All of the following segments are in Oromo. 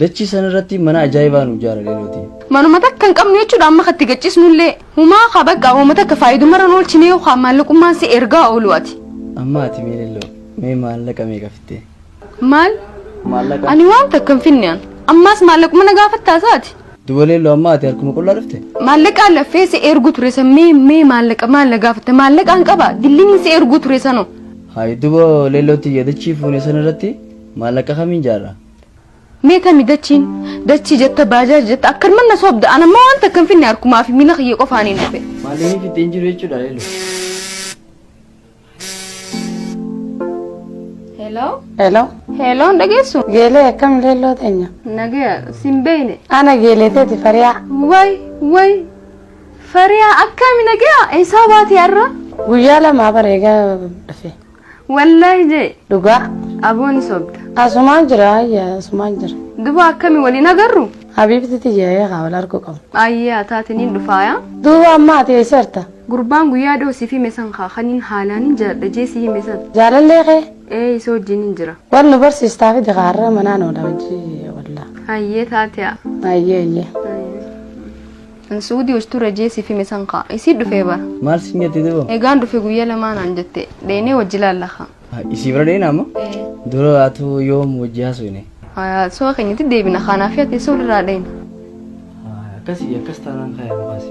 Dachii san irratti mana ajaa'ibaa nu ijaara leeloti. Manuma takka hin qabnu jechuudha amma katti gachisnullee. Humaa ka bakka hooma takka faayidumarra hin oolchine yookaan maallaqummaan si ergaa oolu ati. Amma ati mee leelloo mee maallaqa meeqa fittee? Maal? Maallaqa. Ani waan takka hin finne an. Ammaas maallaquma na gaafattaa saati. Duba leelloo amma ati harkuma qullaa dhufte? Maallaqaan laffee si ergu ture san mee mee maallaqa maal na gaafatte maallaqaan qaba dilliniin si ergu ture sanoo. Hayi duba leellootti yaadachii fuune san irratti Maallaqa kamiin jaarra? Mee tami dachiin? Dachii jetta baajaaji jetta akkanuma na sobda an ammoo waan takka hin finne harkumaa fi miila kiyya qofaaniin dhufe. Maallaqni fixxee hin jiru jechuudha leeloo. Hello? Hello. Hello hin dhageessu? Geelee akkam leelloo teenya? Nagaya sin beeyne. Ana geelee teeti fariyaa. Way way fariyaa akkami nagaya eessaa baatee har'a? Guyyaa lamaa bareegaa dhufe. Wallaahi jee. Dhugaa. Aboo ni sobda. Asumaan jira ayya asumaan jira. Duba akkami waliin agarru? Habiibti tiyya ee haa wal argu qabu. Ayyee ataati niin dhufaaya. Duuba amma ati eessarta? Gurbaan guyyaa dhoo siif hime san kaa kaniin haalaan hin jaaladha jee si hime san. Jaalallee kee? Ee isa wajjin hin jira. Wal nu barsiistaa fidi kaarra manaan oola hojii wallaa. Ayyee taatea. Ayyee ayyee. An suudii ustuu rajee sif hime san kaa. Isii dhufee bar. Maal sin jette duba? Egaan dhufe guyyaa lamaa naan jette. Dheynee wajji laalla kaa. Isii bira dheeyna amma? Dura atu yoom wajji haasofne? Haya su'a keenyatti deebina kaanaa fi ateessoo walirraa dheyna. Akkasii akkas taanaan kaa yaa mukaasi.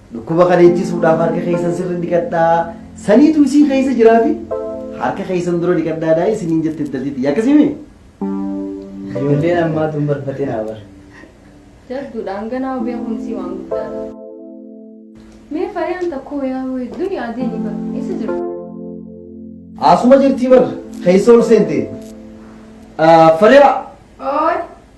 Dhukkuba kana ittisuudhaaf harka keessan sirri dhiqadhaa. Saniitu isii keessa jiraafi harka keessan dura dhiqadhaa daa'i isiniin jette intalti tiyya akkasimi. Ijoolleen ammaa tun barfatinaa bar. Jabduudha hanganaa obee kunisii waan guddaadha. Mee fariyaan takkoo yaa wayii duniyaa deemi bar eessa jirtu? Asuma jirtii bar keessa ol seente. Fariyaa Ooy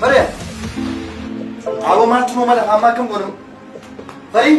Maria! Abo maaltu nu mala amma akkam godhu? Marii!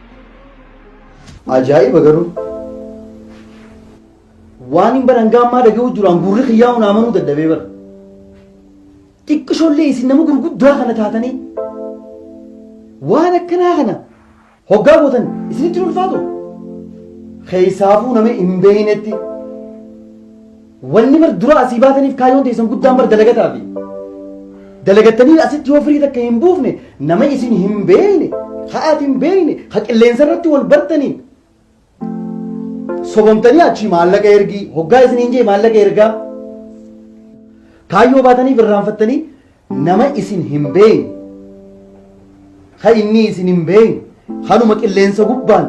Ajaa'iba garuu waan hin baran gaammaa dhaga'uu jiraan gurri kiyyaa'u naa manuu dadhabee bara. Xiqqishoollee isin nama gurguddaa kana taatanii waan akkanaa kana hoggaa gootan isinitti hin ulfaatu. Keessaafuu nama hin beeynetti Wanni bar dura asii baataniif kaayyoon teessan guddaan bar dalagataafi. Dalagattanii asitti yoo firii takka hin buufne nama isin hin beeyne, ha ati hin beeyne, ha qilleensa irratti wal bartaniin. Sobomtanii achii maallaqa ergii, hoggaa isin hin jee maallaqa ergaa. Kaayyoo baataniif irraanfattanii Nama isin hin beeyne, ka innii isin hin beeyne, kanuma qilleensa gubbaan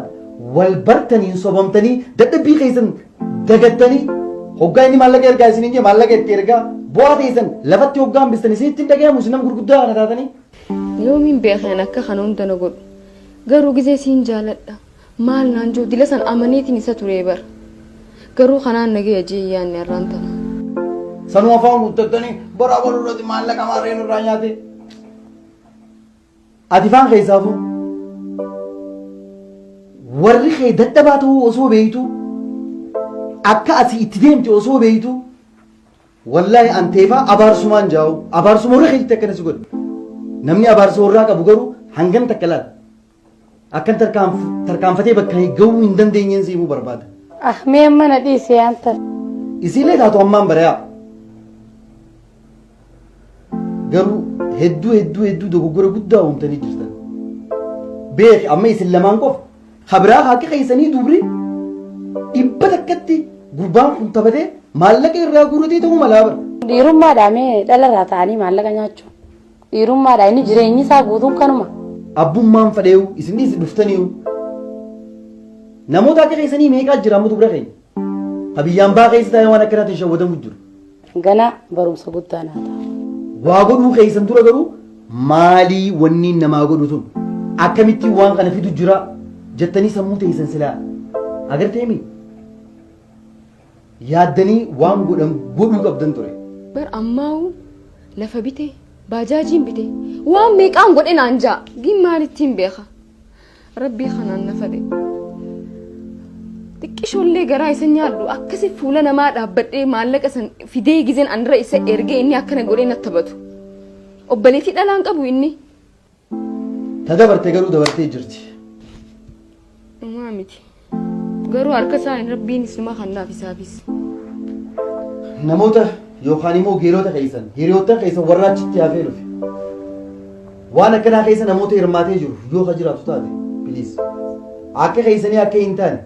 wal bartaniin sobamtanii dadhabbii keessan dagattanii hoggaa inni maallaqa ergaa isiniin jee maallaqa itti ergaa bu'aa teessan lafatti hoggaa hambistan isinitti hin dhagayamu isin nama gurguddaa kana taatanii. Yoomiin beekeen akka kana hunda na godhu. Garuu gizee siin jaaladha. Maal naan jiru dila san amaneetiin isa turee bar. Garuu kanaan na gahe jee hin yaanne arraan tana. Sanuu afaan guuttattanii bara abaluu irratti maallaqa maarree nurraa nyaate. Ati faan keessaafuu warri kee dadhabaa ta'uu osoo beektu akka asii itti deemte osoo beektu wallaahi anteefaa abaarsumaan jaa'u abaarsuma warra keetti akkana si godhe namni abaarsa warraa qabu garuu hangan takka laata. Akkan tarkaanfatee bakka gahuu hin dandeenyeen si himuu barbaada. Ah mee amma na dhiisi yaanta. Isiilee taatu ammaan bari'aa. Garuu hedduu hedduu hedduu dogoggora guddaa uumtanii jirtan. Beeki amma isin lamaan qofa kabiraa haqa keessanii dubri dhibba takkatti gurbaan kun taphatee maallaqa irraa guuratee ta'uu malaa bara. Dhiirummaadhaa mee dhalarraa ta'anii maallaqa nyaachuu. Dhiirummaadha inni jireenyi isaa guutuun kanuma. Abbummaan fadheeyu isinnis dhuftaniyu namoota akka keessanii meeqaa jira amma dubra keenya ka biyyaan baa keessa taa'ee waan akkanaatiin shawwadamu jiru. Ganaa barumsa guddaa naa ta'a. Waa godhuu keessan dura garuu maalii wanni namaa godhu sun akkamitti waan kana fidu jira jettanii sammuu teessan silaa agarteemi. yaaddanii waan godhan godhuu qabdan ture. Bar ammaa'uu lafa bite, baajaajiin bite, waan meeqaan godhe naan ja'a. Gin maalittiin beeka? Rabbii kanaan na fade. Xiqqishoollee garaa isa nyaadhu akkasi fuula namaa dhaabbadhee maallaqa san fidee gizeen anra isa ergee inni akkana godhee na taphatu. Obboleettii dhalaan qabu inni. Ta dabarte garuu dabartee jirti. Dhumaa miti. Garuu harka isaan rabbiin isuma kannaaf isaafis. Namoota yookaan immoo geerota keessan hiriyoottan keessan warra achitti hafee dhufe. Waan akkanaa keessa namoota hirmaatee jiru yoo ka jiraatu taate biliis. Akka keessanii akka hin taane.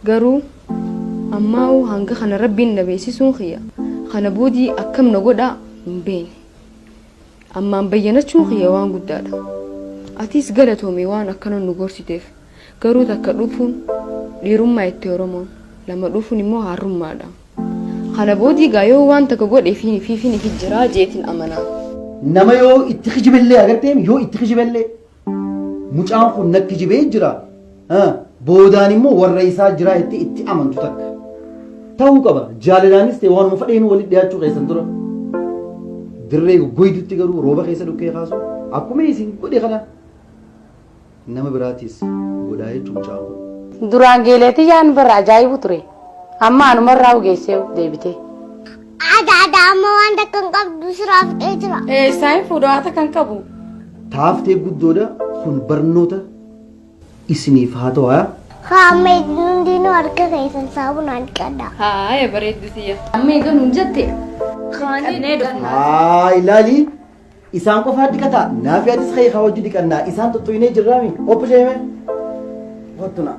Garuu ammaa'u hanga kana rabbiin na beeksisuun kiyya. Kana boodii akkam na godhaa hin beekne. Ammaan bayyanachuun kiyya waan guddaadha. Atiis galatoomi waan akkana nu gorsiteef. Garuu takka dhuufuun dhiirummaa jette Oromoon. Lama dhuufuun immoo haarrummaadha. Kana boodii gaa yoo waan takka godhe fiin fiifin ifi jiraa jeetin amana. Nama yoo itti kijibe illee agarteem yoo itti kijibe illee. Mucaan kun na kijibee jira, boodaan immoo warra isaa jiraa jettee itti amantu takka. Ta'uu qaba jaalalaanis ta'e waanuma fadheenuu walitti dhiyaachuu keessan dura. Dirree goggoydutti garuu rooba keessa dhukkee kaasu akkuma isin godhe kana nama biraatiis godhaa jechuun mucaan kun. Duraan geeleetii yaan barra ajaa'ibu ture. Amma anumarraa ugeessee deebitee. Haadha haadha amma waan takka hin qabdu siraa fixee jira. Eessaa hin fuudhu haata kan qabu. Taaftee guddoodha kun barnoota isiniif haa ta'u haa. Haa amma hundinuu harka keessan saabunaan dhiqadha. Haaya bareeddu siyya. Amma egaa nuun jette. Kannee dhufna. Haa ilaali isaan qofaa dhiqataa naaf yaadis ka'ee haa hojii dhiqannaa isaan tuttuinee jirraami obbo Sheemee. Wattu naa.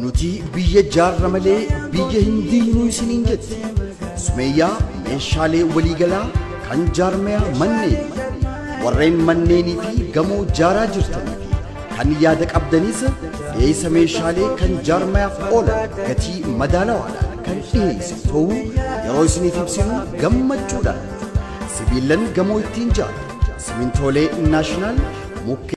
Nuti biyya jaarra malee biyya hin diignuu isiniin jetti. Sumeeyyaa meeshaalee waliigalaa kan jaarmayaa manneen warreen manneenii fi gamoo jaaraa jirtanii fi kan yaada qabdanis dhiyeessa meeshaalee kan jaarmayaaf oolan gatii madaalawaadhaan kan dhiyeessu ta'uu yeroo isiniif ibsinu gammachuudhaan sibiilan gamoo ittiin jaaru simintoolee naashinaal mukkee